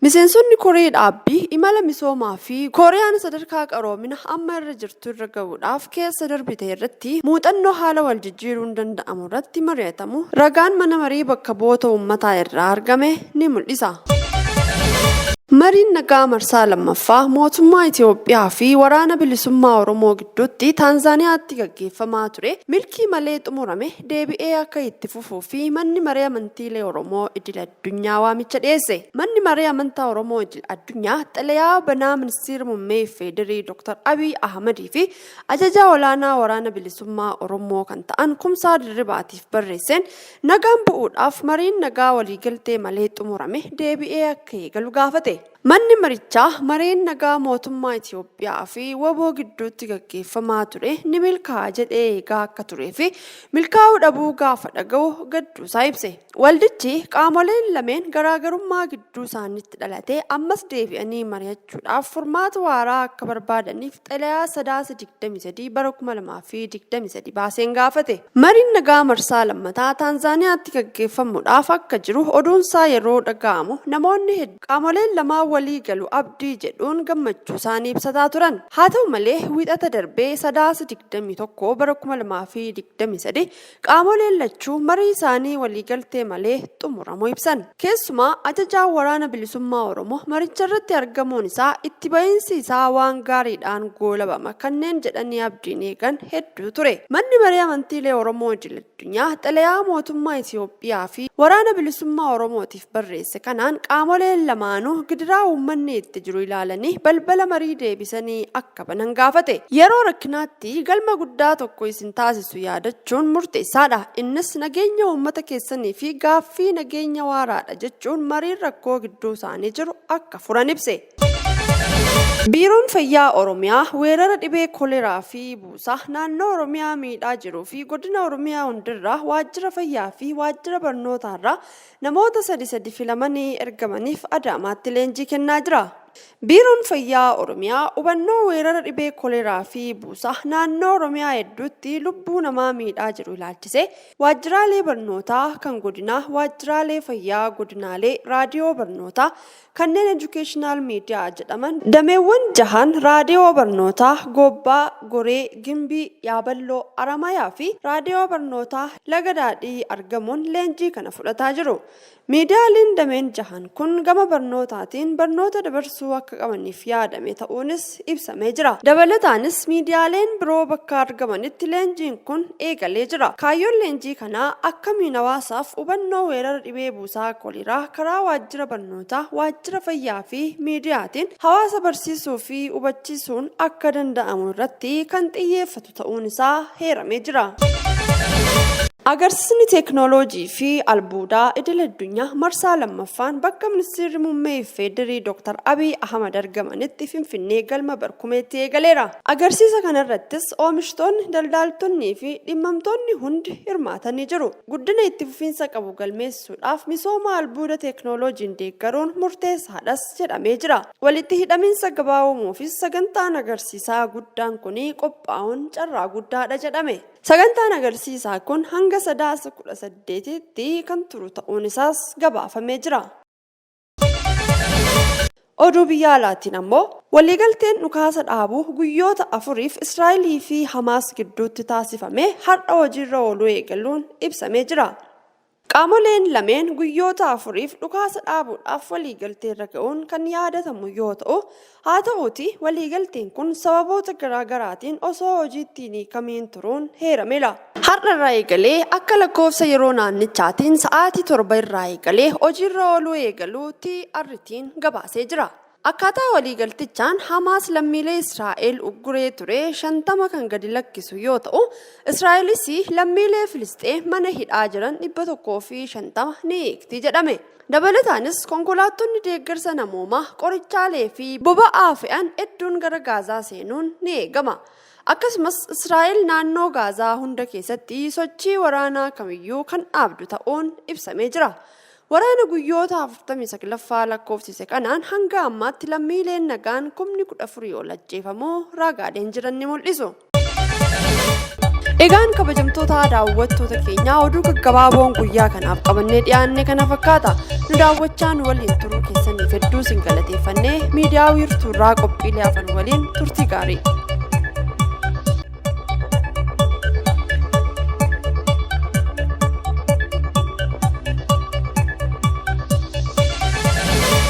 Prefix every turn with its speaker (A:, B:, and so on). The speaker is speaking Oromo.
A: Miseensonni koree dhaabbii imala misoomaa fi Kooriyaan sadarkaa qaroomina amma irra jirtu irra ga'uudhaaf keessa darbite irratti muuxannoo haala wal jijjiiruun danda'amu irratti mari'atamu ragaan Mana Marii Bakka Bu'oota Uummataa irraa argame ni mul'isa. Mariin nagaa marsaa 2ffaa mootummaa Itiyoophiyaa fi Waraana Bilisummaa Oromoo gidduutti Taanzaaniyaatti gaggeeffamaa ture milkii malee xumurame. deebi'ee akka itti fufuu fi Manni Maree Amantiilee Oromoo Idil Addunyaa waamicha dhiyeesse. Manni Maree Amantaa Oromoo Idil Addunyaa xalayaa banaa Ministiira Mummee Iffeedirii Dr. Abiy Ahamadii fi Ajajaa Olaanaa Waraana Bilisummaa Oromoo kan ta'an Kumsaa Dirribaatiif barreesseen nagaan bu'uudhaaf mariin nagaa waliigaltee malee xumurame deebi'ee akka eegalu gaafate. Manni marichaa mareen nagaa mootummaa Itiyoophiyaa fi wbo gidduutti gaggeeffamaa ture ni milkaa'a jedhee eegaa akka turee fi milkaa'uu dhabuu gaafa dhaga'u gadduusaa ibse. Waldichi qaamoleen lameen garaagarummaa gidduu isaaniitti dhalate ammas deebi'anii mari'achuudhaaf furmaata waaraa akka barbaadaniif xalayaa Sadaasa 23 bara 2023 baaseen gaafate. Mariin nagaa marsaa lammataa Taanzaaniyaatti gaggeeffamuudhaaf akka jiru oduunsaa yeroo dhaga'amu namoonni hedduun qaamoleen lamaan walii galu abdii jedhuun gammachuusaanii ibsataa turan. Haa ta'u malee, Wiixata darbe Sadaasa 21 bara 2023 Qaamoleen lachuu marii isaanii waliigaltee malee xumuramuu ibsan. Keessumaa ajajaan waraana bilisummaa Oromoo maricharratti argamuun isaa itti ba'iinsi isaa waan gaariidhaan goolabama kanneen jedhanii abdiin eegan hedduu ture. Manni marii amantiilee Oromoo idil addunyaa xalayaa mootummaa Itiyoophiyaa fi waraana bilisummaa Oromootiif barreesse kanaan qaamoleen lamaanuu gidiraa uummanni itti jiru ilaalanii balbala marii deebisanii akka banan gaafate. Yeroo rakkinaatti galma guddaa tokko isin taasisu yaadachuun murteessaadha. Innis nageenya uummata keessanii fi gaaffii nageenya waaraadha jechuun mariin rakkoo gidduu isaanii jiru akka furan ibse. Biiroon Fayyaa Oromiyaa weerara dhibee koleraa fi buusaa naannoo Oromiyaa miidhaa jiruu fi godina Oromiyaa hundirraa waajjira fayyaa fi waajjira barnootaarraa Namoota sadi sadi filamanii ergamaniif Adaamaatti leenjii kennaa jira. Biiroon Fayyaa Oromiyaa hubannoo weerara dhibee koleeraa fi buusaa naannoo Oromiyaa hedduutti lubbuu namaa miidhaa jiru ilaalchisee waajjiraalee barnootaa kan godinaa, waajjiraalee fayyaa godinaalee, raadiyoo barnootaa, Kanneen Educational Media jedhaman dameewwan jahan Raadiyoo Barnootaa Goobbaa, Goree, Gimbii, Yaaballoo, Aramayaa fi Raadiyoo Barnootaa Laga Daadhii argamuun leenjii kana fudhataa jiru. Miidiyaaleen dameen jahan kun gama barnootaatiin barnoota dabarsuu akka qabaniif yaadame ta'uunis ta'uunis ibsamee jira. Dabalataanis miidiyaaleen biroo bakka argamanitti leenjiin kun eegalee jira. Kaayyoon leenjii kanaa akkamiin hawaasaaf hubannoo weerara dhibee buusaa koliraa karaa waajjira barnootaa, waajjira fayyaa fi miidiyaatiin hawaasa barsiisuu fi hubachiisuun akka danda'amu irratti kan xiyyeeffatu ta'a. ta'uun isaa heeramee jira. Agarsiisni teeknooloojii fi albuudaa idil addunyaa marsaa lammaffaan bakka ministeerri muummee Ifeedirii Dr. Abiy Ahmad argamanitti Finfinnee galma barkumeetti eegaleera. Agarsiisa kanarrattis oomishtoonni, daldaaltonnii fi dhimmamtoonni hundi hirmaatanii jiru. Guddina itti fufiinsa qabu galmeessuudhaaf misooma albuuda teeknooloojiin deeggaruun murteessaadhas jedhamee jira. Walitti hidhamiinsa gabaa uumuufis sagantaan agarsiisaa guddaan kun qophaa'uun carraa guddaadha jedhame. Sagantaan agarsiisaa kun hanga Sadaasa 18tti kan turu ta'uun isaas gabaafamee jira. Oduu biyya alaatiin ammoo waliigalteen dhukaasa dhaabuu guyyoota afuriif Israa'elii fi Hamaas gidduutti taasifame har'a hojiirra ooluu eegaluun ibsamee jira. Qaamoleen lameen guyyoota afuriif dhukaasa dhaabuudhaaf waliigalteerra ga'uun kan yaadatamu yoo ta'u, Haa ta'uutii waliigalteen kun sababoota garaa garaatiin osoo hojiitti hin hiikamiin turuun heerameera. Har'a irraa eegalee akka lakkoofsa yeroo naannichaatiin sa'aatii 7:00 irraa eegalee hojiirra ooluu eegaluu TRT'n gabaasee jira. Akkaataa waliigaltichaan Hamaas lammiilee Israa'el ugguree ture 50 kan gadi lakkisu yoo ta'u, Israa'elis lammiilee Filisxeem mana hidhaa jiran 150 ni hiikti jedhame. Dabalataanis konkolaattonni deeggarsa namoomaa, qorichaalee fi boba'aa fe'an hedduun gara Gaazaa seenuun ni eegama. Akkasumas Israa'el naannoo Gaazaa hunda keessatti sochii waraanaa kamiyyuu kan dhaabdu ta'uun ibsamee jira. Waraana guyyoota 49ffaa lakkoofsise kanaan hanga ammaatti lammiileen nagaan kumni 14 ol ajjeefamuu raagaaleen jiran ni mul'isu. Egaan kabajamtoota daawwattoota keenyaa oduu gaggabaaboon guyyaa kanaaf qabannee dhiyaanne kana fakkaata. Nu daawwachaan waliin turuu keessaniif hedduu sin galateeffannee miidiyaa wiirtuurraa qophiilee afan waliin turtii gaarii.